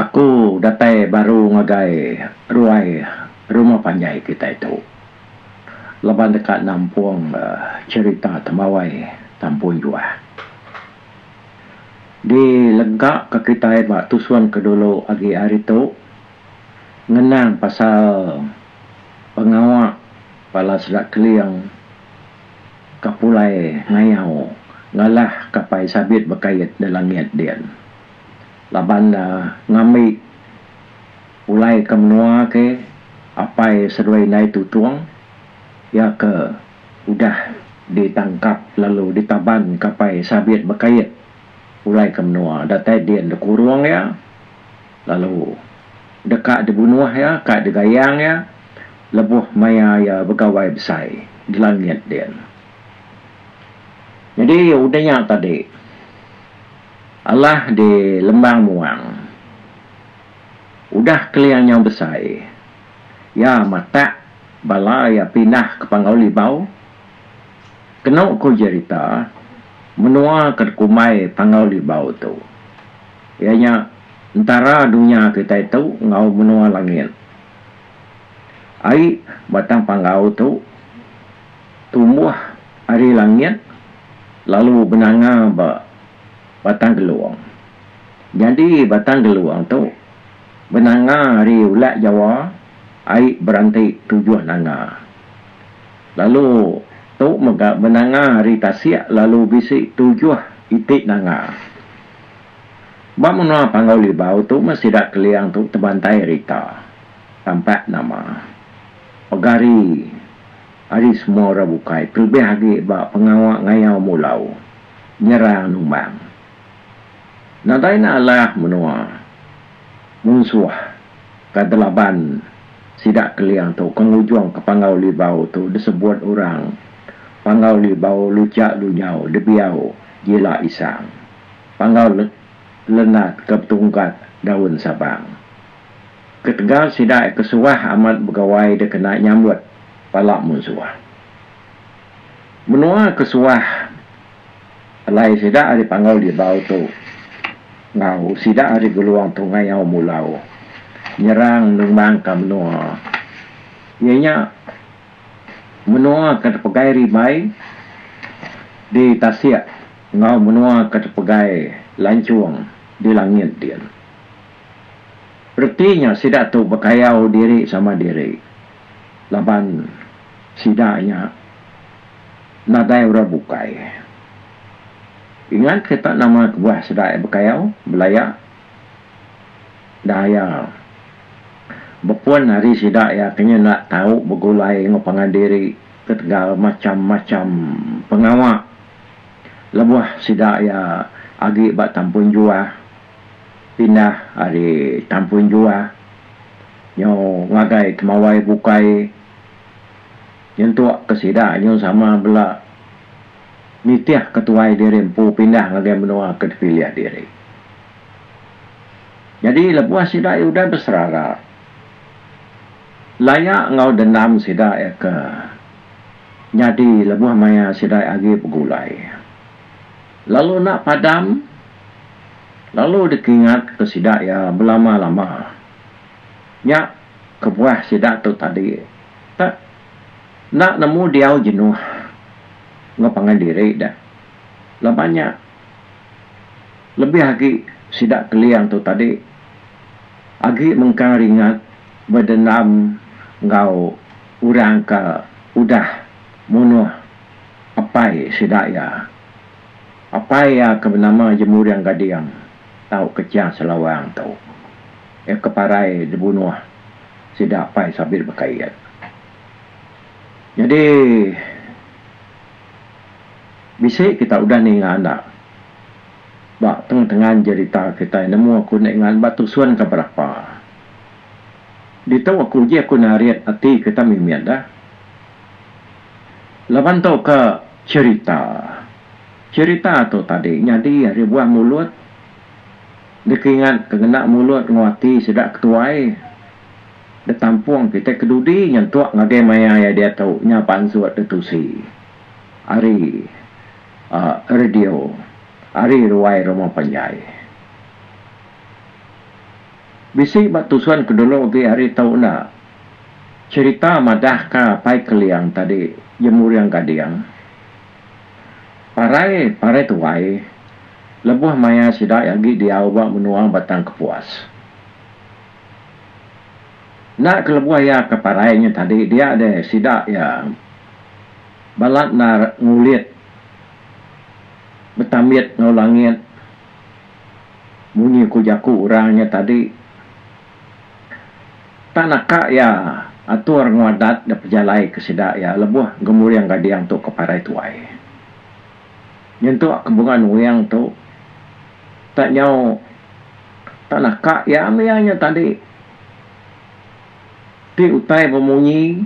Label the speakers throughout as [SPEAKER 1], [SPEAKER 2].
[SPEAKER 1] Aku datai baru ngagai ruai rumah panjai kitai tu laban deka nampung cherita temawai tampoi juah. Di lega ka kitai ba tusung ke dulu agi ari tu ngenang pasal pengawa bala sida Keling. ka pulai ngayau ngalah kapai sabit bekait da langit din. Laban da ngambi pulai ke menua ke apai seduai indai tutung iya ke udah ditangkap lalu ditaban kapai sabit bekait pulai ke menua datai din dikurung iya. Lalu, deka dibunuh iya ka digayang iya lebuh maya iya begawai besai di langit din. Nyadi udah nya tadi, Allah di lembang muang udah keling nyau besai, iya matak bala iya pindah ke Panggau Libau. Kenu ku jerita, menua ke dikumbai Panggau Libau tu. Iya nya entara dunya kitai tu enggau menua langit. Ai batang panggau tu tumbuh ari langit lalu benanga ba batang gelung. Nyadi batang gelung tu benanga ari ulat Jawa ai beranti tujuh nanga. Lalu tu mega benanga ari tasik lalu bisi tujuh iti nanga. Ba menua Panggau Libau tu meh sida Keliang tu tebantai rita, tampak nama, pegari ari semua orang bukai kelebih agi ba pengawa ngayau mulau, nyerang numbang. Nadai enda alah menua munsuh ka de laban sida Keliang tu ke ngujung ke Panggau Libau tu disebut orang Panggau Libau Luchak Lunyau Debiau Jila Isang. Panggau Lenat ke betunggat daun sabang. Ketegal sida ke suah amat begawai dikena nyambut bala munsuh. Menua ke suah alai sida ari Panggau Libau tu enggau sida ari Gelong tu ngayau mulau nyerang numbangka menua iya nya menua ke dipegai rimbai di tasik. Enggau menua ke tepegai lanchung di langit din. Reti nya sida tu bekayau diri sama diri laban sida nya nadai orang bukai. Ingat kita nama kebuah sida iya bekayau, belaya, daya. Bepun ari sida iya ke nyenda tau begulai enggau pangan diri ketegal macham-macham pengawa. Lebuh sida iya agi ba Tampoi Juah, pindah ari Tampoi Juah nyau ngagai Temawai Bukai nyentuk ke sida nyau sama bela nitih ke tuai diri empu pindah ngagai menua ke dipilih diri. Nyadi lebuh sida iya udah beserara, laya enggau dendam sida iya ke nyadi lebuh maya sidai agi begulai. Lalu enda padam lalu dikingatka sida iya belama-lama. Nya kebuah sida tu tadi tak enda nemu diau jenuh enggau pangan diri deh. Laban nya lebih agi sida Keling tu tadi agi mengkang ringat bedendam enggau. Orang ke udah munuh apai sida iya. Apai iya ke benama Jemuring Gading tauka Chiang Selawang tu. Iya ke parai dibunuh sida apai Sabit Bekait. Nyadi bisi kita udah ninga enda ba tengan-tengan jerita kitai nemu aku enda ingat ba tusun ke berapa. Ditu aku uji aku narit ati ke tang mimit dah. Laban tu ke cherita. Cherita tu tadi nyadi ari buah mulut dikingat ke ngena mulut enggau ati sida ke tuai ditampung kitai ke dudi nyentuk ngagai maya iya diatu nya pansut ditusi ari uhh radio ari ruai rumah panjai. Bisi ba tusun ke dulu agi hari tu enda. Cherita madah ka Pai Keliang tadi Jemuring Gading. Parai parai tuai lebuh maya sida agi diau ba menua Batang Kepuas. Enda ke lebuh iya ke parai nya tadi dia deh sida iya balat endar ngulit betambit enggau langit. Munyi ku jaku orang nya tadi, tak naka iya atur enggau adat da pejalaika sida iya lebuh gemuring gading tu ke parai tuai. Nyentuk ke bunga nuing tu tak nyau tak naka iya mih iya nya tadi. Ti utai bemunyi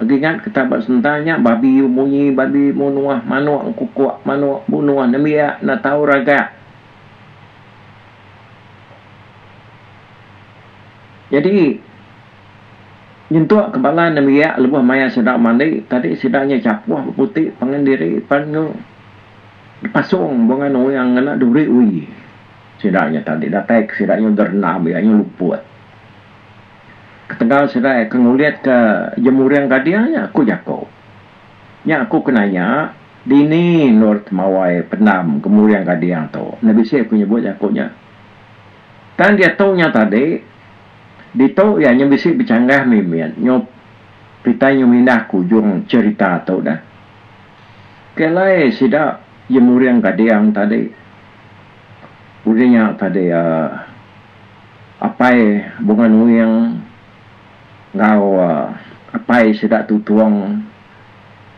[SPEAKER 1] agi ngat kita ba sementar nya babi bemunyi babi menuah manok engkukok manok benuah nembiak enda tau ragak. Jadi nyentuk ke bala nembiak lebuh maya sida mandi tadi sida nya chapuh beputi pangan diri pan nya dipasong bengan oyang ngena duri oi sida nya tadi datai ke sida nya gerendam iya nya luput. Ketegal serai ke ngulitka jemuring gadir nya ku jaku. Nya aku ke nanya, dini endur temawai pendam gemuring gadir tu. Enda bisi aku nyebut jaku nya. Tang diatu nya tadi, ditu iya nya bisi bechanggah mimit nyop kitai nyau mindah ke ujung cherita tu dah. Ke alai sida jemuring gadir tadi. Udah nya tadi uhh. Apai Bunga Nuing enggau apai sida Tutong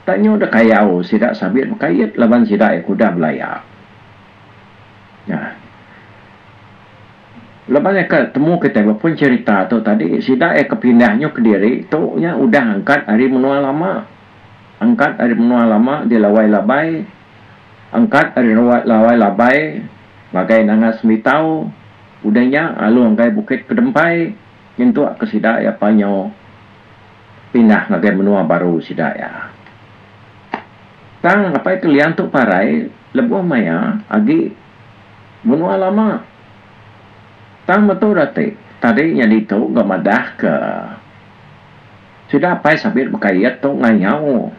[SPEAKER 1] tak nyu deh kayau sida sabit bekait laban sida iya ke udah belaya. Nya. Leban iya ke temu kitai ba pun cherita tu tadi sida iya ke pindah nyu kediri tu nya udah angkat ari menua lama. Angkat ari menua lama di Lawai Labai. Angkat ari Lawai Labai. ngagai Nanga Semitau, udah nya lalu ngagai Bukit Kedempai nyentuk ke sida iya pan nyau pindah ngagai menua baru sida iya. Tang apai ke liang tu parai lebuh maya agi menua lama. Tang metu dati tadi nyadi tu ga madahka sida apai sabit bekait tu ngayau.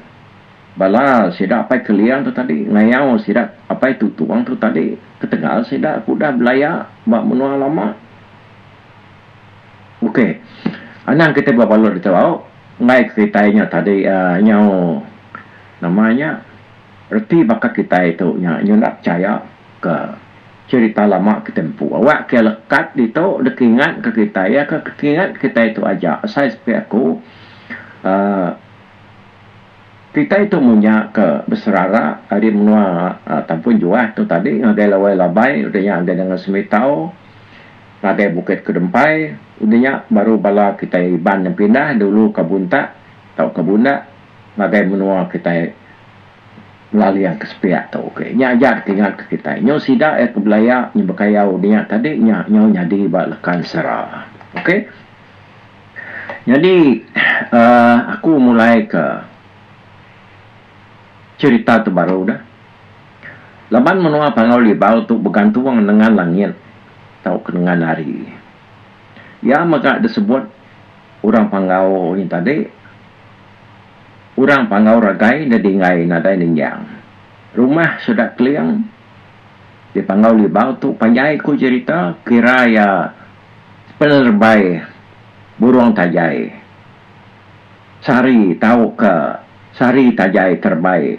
[SPEAKER 1] Bala sida apai Keling tu tadi ngayau sida apai Tutung tu tadi ketegal sida ke udah belaya ba menua lama. Okey. Anang kitai bebalut ditu au enggai ke kitai nya tadi uhh nyau nama nya reti baka kitai tu nya nyudah pechaya ke cherita lama kitai empu. Awak ke lekat ditu deka ingat ke kitai iya ke kitai tu aja asai sepi aku uhh Kitai tu munya ke beserara ari menua Tampun Juah tu tadi ngagai Lawai Labai udah nya ngagai Dangan Semitau, ngagai Bukit Kedempai udah nya baru bala kitai Iban yang pindah dulu ka Buntak tauka Bundak ngagai menua kitai Laling ke sepiak tu. Okey nya aja deka ingat ke kitai. Nyau sida iya ke belaya nyau bekayau udah nya tadi nya nyau nyadi ba Lekan Sera. Okey. Nyadi uhh aku mulai ka cerita tu baru dah. Laban menua Panggau Libau tu begantung nengan langit tauka nengan hari. Iya mega disebut orang Panggau nya tadi orang Panggau ragai da dinggai nadai ninjang. Rumah sida Keling di Panggau Libau tu panjai ku cerita kira iya Penerebai burung tajai sari tauka sari tajai terebai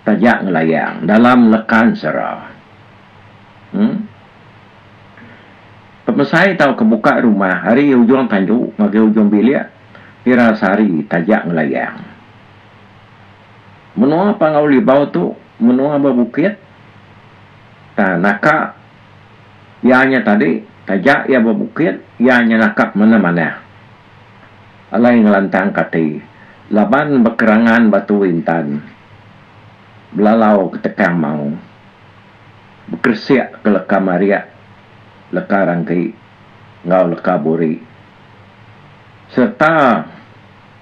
[SPEAKER 1] taja ngelayang dalam lekan sera. Em. Pemesai tauka buka rumah ari ujung tandu ngagai ujung bilik ira sari taja ngelayang. Menua Pangau Libau tu menua bebukit tang naka Iya nya tadi, taja iya bebukit, iya nya nakap manah-manah. Alai ngelantangka ati, laban bekerangan batu intan, belalau ke tekang mau, bekeresik ke leka mariak, leka rangki enggau leka buri, sereta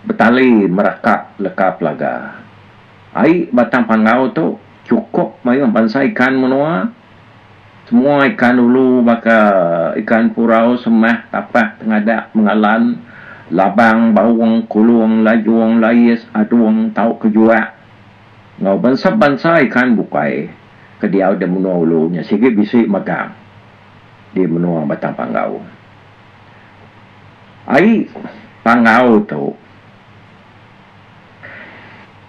[SPEAKER 1] betali meraka leka pelaga. Ai batang panggau tu chukup mayuh bansa ikan menua. Semua ikan ulu baka ikan purau, semah, tapak, tengadak, mengalan, labang, baung, kulung, lajung, lais, adung tauka juak enggau bansa-bansa ikan bukai ke diau di menua ulu nya sigi bisi megang di menua Batang Panggau. Ai panggau tu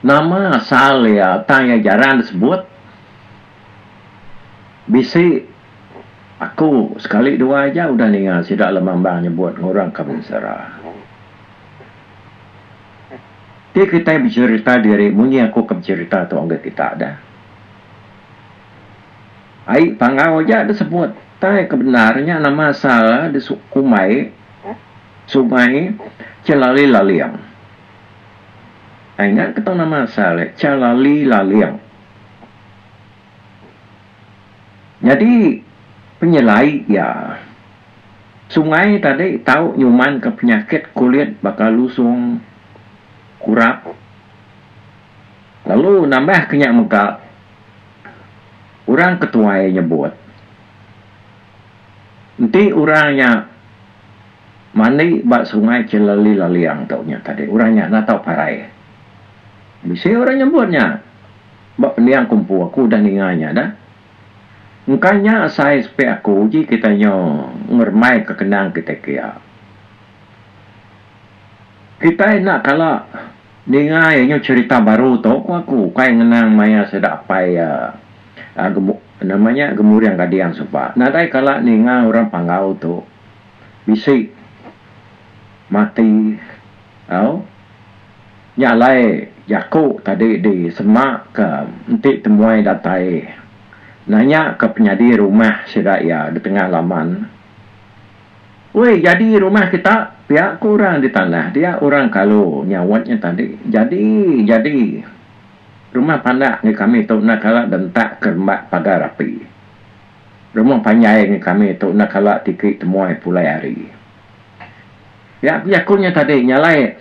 [SPEAKER 1] nama asal iya tang iya jarang disebut. Bisi aku sekali dua aja udah ninga sida lemambang nyebut ngurang ka mensara. Ti kitai becherita diri munyi aku ke becherita tu enggau kita dah. Ai panggau aja da sebut tai ke bendar nya nama asal di Kumbai Sungai Chelali Laling. Ai ingat ke tau nama asal dia Chelali Laling. Nyadi penyelai iya, sungai tadi tau nyumanka penyakit kulit baka lusung, kurap lalu nambahka nya mega orang ke tuai nyebut enti orang nya mandi ba sungai ke lelilaling tu nya tadi orang nya enda tau parai. Bisi orang nyebut nya. Ba pendiang aku empu aku udah ninga nya dah. Engka nya asai sepik aku ji kitai nyo ngerembai ka kenang kitai kia. Kitai enda kala ninga iya nyo cherita baru tu ku aku ukai ngenang maya sida apai iya nama nya gemuring gading suba. Nadai kala ninga orang panggau tu bisi mati. Au. Nya alai jaku tadi disemaka enti temuai datai nanyaka penyadi rumah sida iya di tengah laman. Wei jadi rumah kita pia ku orang di tanah dia orang kalu nyaut nya tadi. Jadi jadi rumah pandak ngi kami tu enda kala dentak kerembat pagar api. Rumah panjai ngi kami tu enda kala tiki temuai pulai hari. Nya ku jaku nya tadi nya alai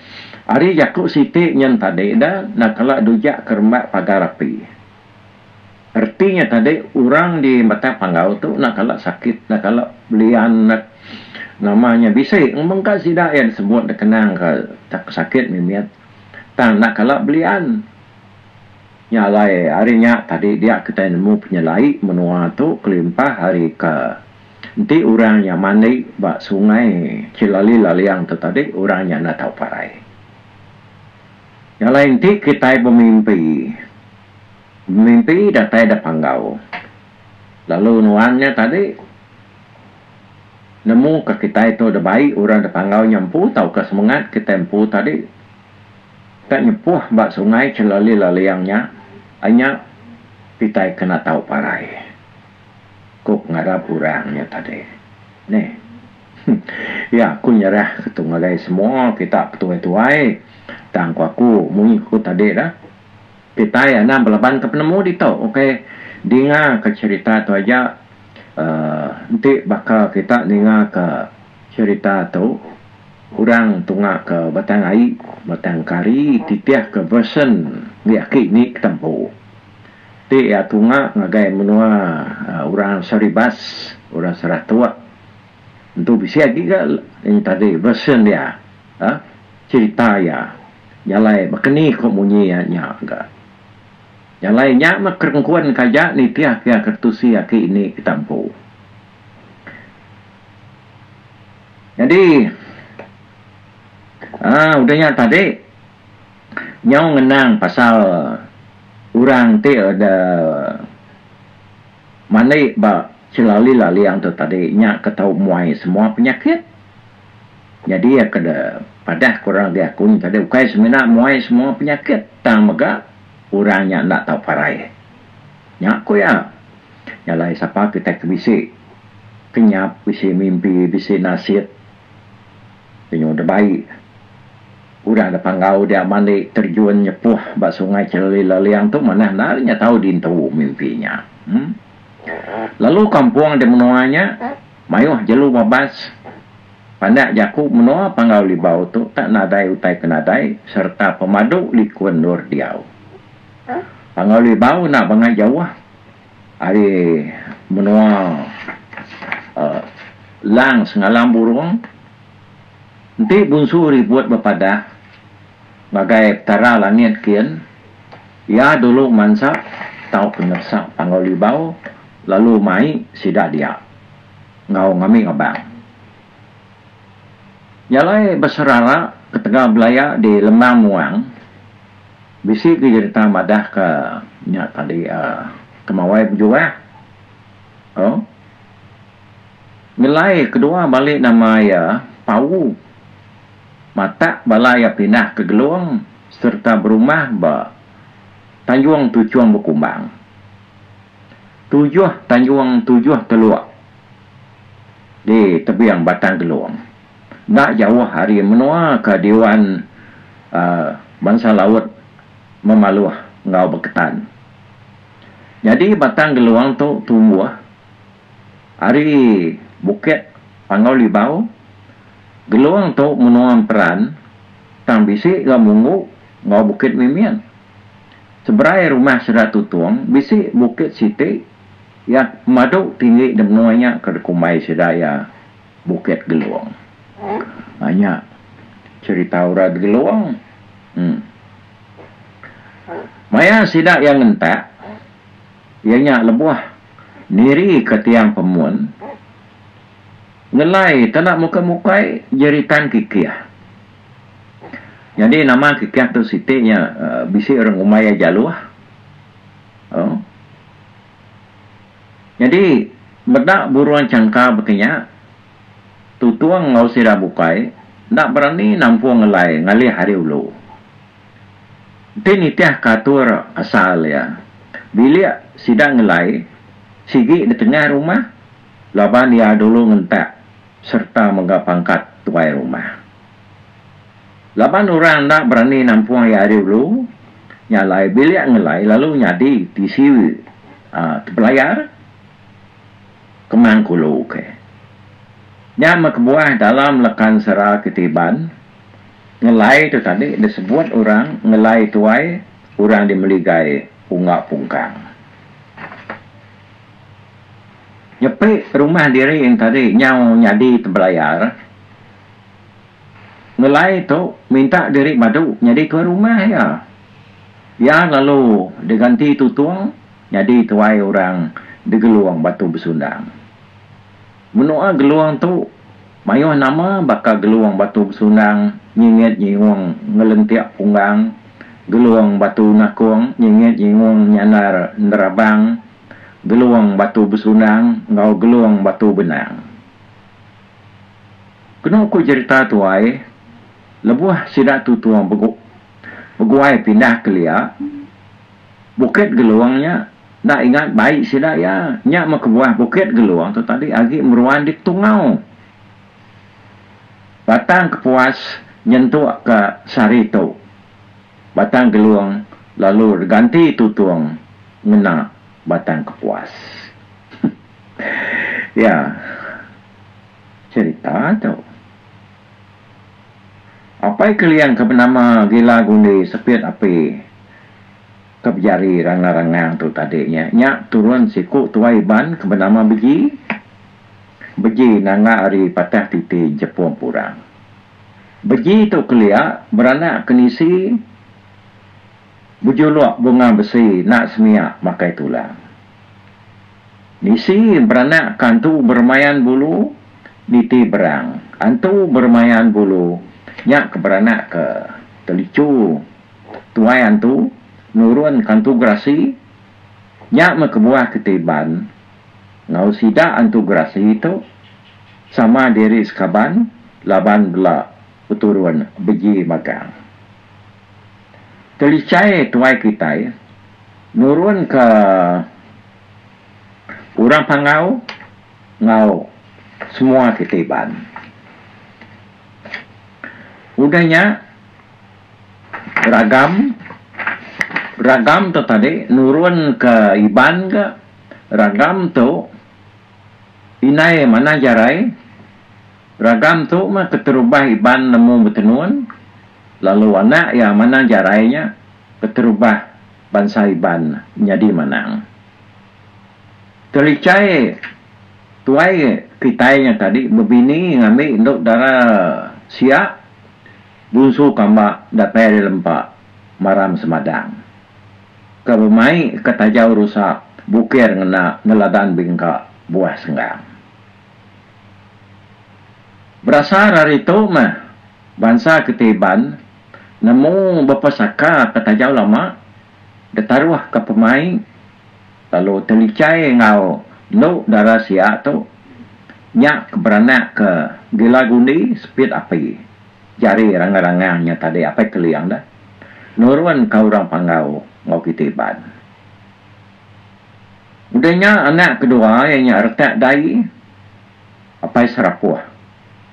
[SPEAKER 1] ari jaku siti nyen tadi da enda kala dujak ke rembat pagar api. Reti nya tadi orang di Batang Panggau tu enda kala sakit enda kala belian enda nama nya bisi mengka sida iya disebut dikenang ke tak sakit mimit tang enda kala belian. Nya alai ari nya tadi dia kitai nemu penyelai menua tu kelimpah ari ke. Enti orang nya mandi ba sungai Chilali Laliang tu tadi orang nya enda tau parai. Nya alai enti kitai bemimpi, bemimpi datai da panggau lalu nuan nya tadi nemu ka kitai tu da bai orang da panggau nya empu tauka semengat kitai empu tadi ka nyepuh ba sungai Chilali Laliang nya ai nya kitai kena tau parai. Ku pengarap orang nya tadi. Neh. Huh. Ya aku nyerah ke tu ngagai semua kita petuai-tuai. Tang ku aku munyi ku tadi dah. Kitai anang belaban ke penemu ditu ukai dinga ke cherita tu aja. Uhh enti baka kita ninga ke cherita tu orang tunga ke batang ai, batang kari titih ke version agi aki ni ke tembu. Ti iya tunga ngagai menua orang Saribas, orang Saratok. Entu bisi agi ga ini tadi version dia ha cerita iya jalai bakani ko munyi iya nya ga. Jalai nya meh kerengkun ka aja nitih ke aka tusi aki ini kita empu. Jadi aaa udah nya tadi. Nyau ngenang pasal orang ti udah mandi ba Chelali Laling tu tadi nya ke tau muai semua penyakit. Nyadi iya ke de padah ke orang agi aku nya tadi ukai semina muai semua penyakit tang mega orang nya enda tau parai. Nya ku iya. Nya alai sapa kitai ke bisi kenyap, bisi mimpi, bisi nasit. Lenyau da bai, urang da panggau dia mali terjun nyepuh ba Sungai Cheleli Leliang tu manah enda ari nya tau dintu mimpi nya. Lalu kampung di menua nya mayuh jelu babas. Pandak jaku menua Panggau Libau tu tak nadai utai ke nadai sereta pemadu liku endur diau. Panggau Libau enda bangai jauh ari menua Lang Sengalang Burong enti Bunsu Ribut bepadah ngagai Petara Langit kian iya dulu mansa tau penyeresa Panggau Libau lalu mai sida dia enggau ngambing abang iya alai beserara ketegal belaya di Lembang Muang. Bisi ke jerita madah ka nya tadi uhh kemawai bejuah uhh ngelai kedua balik nama iya Pau matak bala iya pindah ke Gelong sereta berumah ba Tanjong Tuchong Bekumbang. Tujoh Tanjong Tujoh Telok di tebing Batang Gelong. Enda jauh ari menua ke Dewan Bansa Laut Memaluh enggau Beketan. Nyadi batang geluang tu tumbuh ari bukit Panggau Libau. Geluang tu menua emperan tang bisi ga Munggu enggau Bukit Mimit. Seberai rumah sida Tutong bisi bukit siti iya pemadu tinggi di menua nya ke dikumbai sida iya. Bukit Gelong. Nah nya cerita Urat Gelong. Em. Maya sida iya ngentak, iya nya lebuh nirika tiang pemun, ngelai tana mukai-mukai jeritan Kikih. Nyadi nama Kikih tu siti nya bisi orang umai iya jaloh. Au. Nyadi, meda burung changka bekenya, tutung enggau sida bukai enda berani nampung ngelai ngalih ari ulu. Enti nitihka atur asal iya, bilik sida ngelai sigi di tengah rumah laban iya dulu ngentak sereta mega pangkat tuai rumah. Laban orang enda berani nampung iya ari ulu, nya alai bilik ngelai lalu nyadi tisi tepelayar kemang ke ulu ke. Nya meh kebuah dalam lekan sera kitai Iban, ngelai tu tadi disebut orang ngelai tuai orang di meligai unggau pungkang. Nyepi rumah diri enti tadi nyau nyadi tepelayar. Ngelai tu minta diri badu nyadi tuai rumah iya. Iya lalu diganti Tutung nyadi tuai orang digelung Batu Besundang. Menua gelung tu mayuh nama baka Gelung Batu Besundang, Nyingit Nyingung Ngelentik Punggang, Gelung Batu Nakung, Nyingit Nyingung Nyandar Nerabang, Gelung Batu Besundang enggau Gelung Batu Benang. Kenu ku jerita tuai, lebuh sida tu tuong begu beguai pindah kelia Bukit Gelung nya enda ingat bai sida iya. Nya meh kebuah Bukit Gelung tu tadi agi meruan di Tungau. Batang Kepuas nyentuk ka sehari tu, Batang Gelung lalu ganti tutung ngena Batang Kepuas. Iya. Cherita tu. Apai Keliang ke benama Gila Gundi Sepit Api ke bejari Ranga Rangang tu tadi nya, nya turun siku tuai Iban ke benama Beji. Beji nanga ari Patah Titi Jepung Purang. Beji tu kelia beranak ke nisi bejuluk bunga besi nak semia makai tulang. Bisi beranak ka entu beremayan bulu niti berang. Entu beremayan bulu nya ke beranak ke telicu. Tuai entu nurun ka entu gerasi nya meh kebuah ke ti iban enggau sida entu gerasi tu sama diri sekaban laban bela beturun beji magang. Telichai tuai kitai nurunka orang pangau enggau semua kitai Iban. Udah nya ragam ragam tu tadi nurunka Iban ga ragam tu indai manah jarai ragam tu mah keterubah Iban nemu betenun lalu anak iya manang jarai nya keterubah bansa Iban nyadi manang. Telichai tuai kitai nya tadi bebini ngambi endu dara sia bunsu kamba datai ari lempa maram semadang ke bemai ke tajau rusa bukir ngena neladan bingka buah senggang. Berasar ari tu mah, bansa kitai Iban nemu bepa saka ke taja lama ditaruh ke pemain lalu telichai enggau enu dara sia tu nya ke beranak ke gila gundi sepit api jari rangang-rangang nya tadi Apai Keling dah nurun ka orang panggau enggau kitai Iban. Enda nya anak kedua iya nya retak dai Apai Serapuh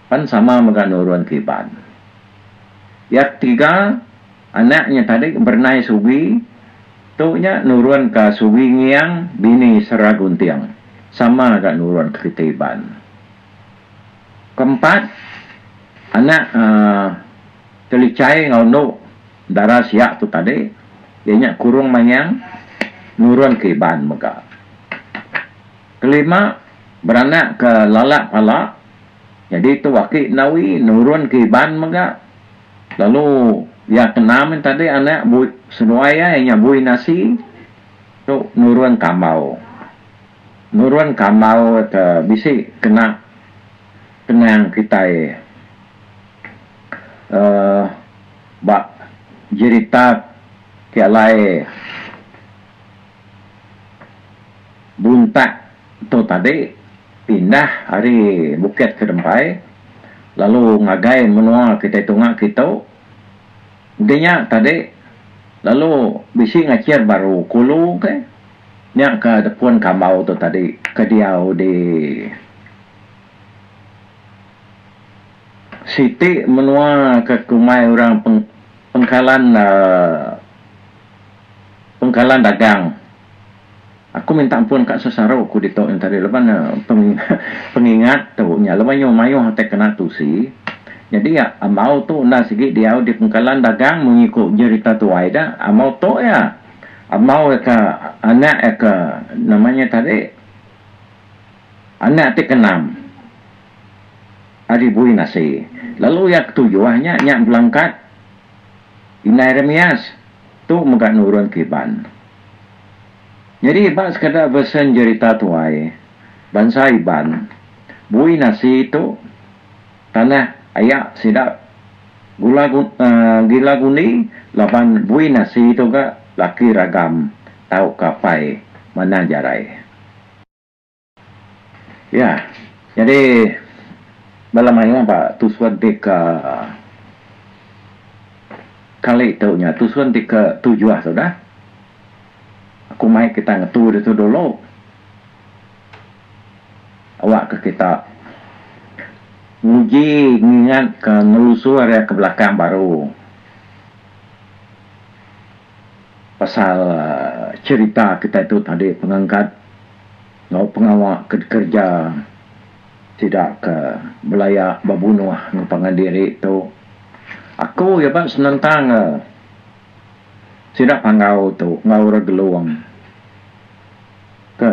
[SPEAKER 1] pan sama mega nurun ke Iban. Iya ketiga anak nya tadi berenai Sugi tu nya nurun ka Sugi Ngiang bini Sera Gunting sama ga nurun ke kitai Iban. Keempat anak Telichai enggau Endu. Dara siak tu tadi iya nya kurung mangyang nurun ke iban mega. Kelima beranak ke lalak pala nyadi tu aki Nawi nurun ke iban mega lalu iya ke enam nya tadi anak Bui seduai iya iya nya Bui Nasi tu nurun ke ambau. Nurun ke ambau ke bisi kena kenang kitai uhh. Ba jerita ti alai buntak tu tadi pindah ari Bukit Kedempai lalu ngagai menua kitai tunga kitu udah nya tadi lalu bisi ngachir baru kulu ke nya ke pun kambau tu tadi ke diau di Siti menua ke kumai orang pengkalan pengkalan dagang. Aku minta empun ka sesaru ku ditu nya tadi laban pengingat tu nya laban nya mayuh atai kena tusi. Nyadi iya ambau tu enda sigi diau di pengkalan dagang munyi ku jerita tuai da ambau tu iya ambau iya ka anak iya ka nama nya tadi Anak ti keenam ari Buin Asi, lalu iya ketujuh nya nya belangkat. Indai Remias tu mega nurun ke Iban. Nyadi ba sekeda versen jerita tuai bansa Iban, Buin Asi tu tanah aya sida Gula Gila Gundi laban Buin Asi tu ga laki ragam tauka apai manah jarai. Ya, nyadi bala mayuh ba tusun ti ke kali tu nya tusun ti ke tujuh tu dah. Aku mai kita ngetu ditu dulu. Awakka kita nguji ngingatka nelusur iya ke belakang baru. pasal cherita kitai tu tadi pengangkat enggau pengawa ke dikerja sida ke belaya ba bunoh enggau pangan diri tu aku iya ba senentang ka sida panggau tu enggau orang Gelong ke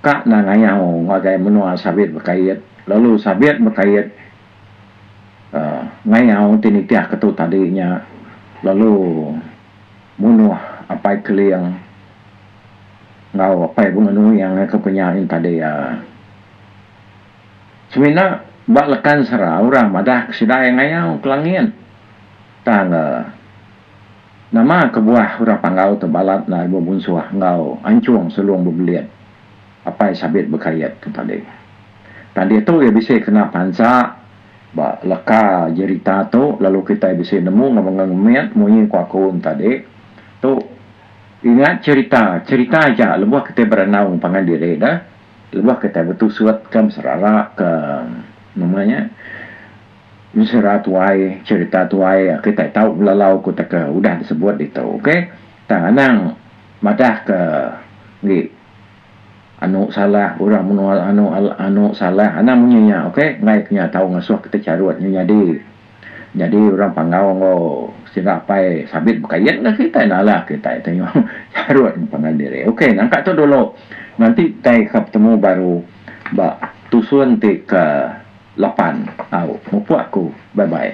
[SPEAKER 1] ka nengayau ngagai menoa sabit bekait lalu sabit bekait ngayau ti nitih ketu tadi nya lalu munuh Apai Keling enggau Apai Bengenue iya ngagai ku penya nya tadi uhh. Semina ba Lekansera orang madah ke sida iya ngayau ke langit tang nama kebuah orang Panggau tu balat enda ari bebunsuh enggau Anchong Selong Bebelit. Apai sabit bekayat ke padi. Tang diatu iya bisi kena pansa ba leka jerita tu lalu kitai bisi nemu enggau mega ngemit munyi ku aku entadi tu ingat jerita jerita aja lebuh kitai berenung pangan diri deh lebuh kitai betusut ke serara ke nama nya mesera tuai jerita tuai kitai tau belalau ku teka udah disebut ditu okay tang anang madah ke ngi Anu salah urang menua anu anu salah anang munyi nya ok enggai ke nya tau ngesuh kitai charut nya nyadi nyadi urang panggau enggau sida apai sabit bekayeng ka kitai nalah kitai ti nyau charut enggau pangan diri ok nangka tu dulu nanti kitai akan betemu baru ba tusun ti ke lapan au mupuk aku bye bye.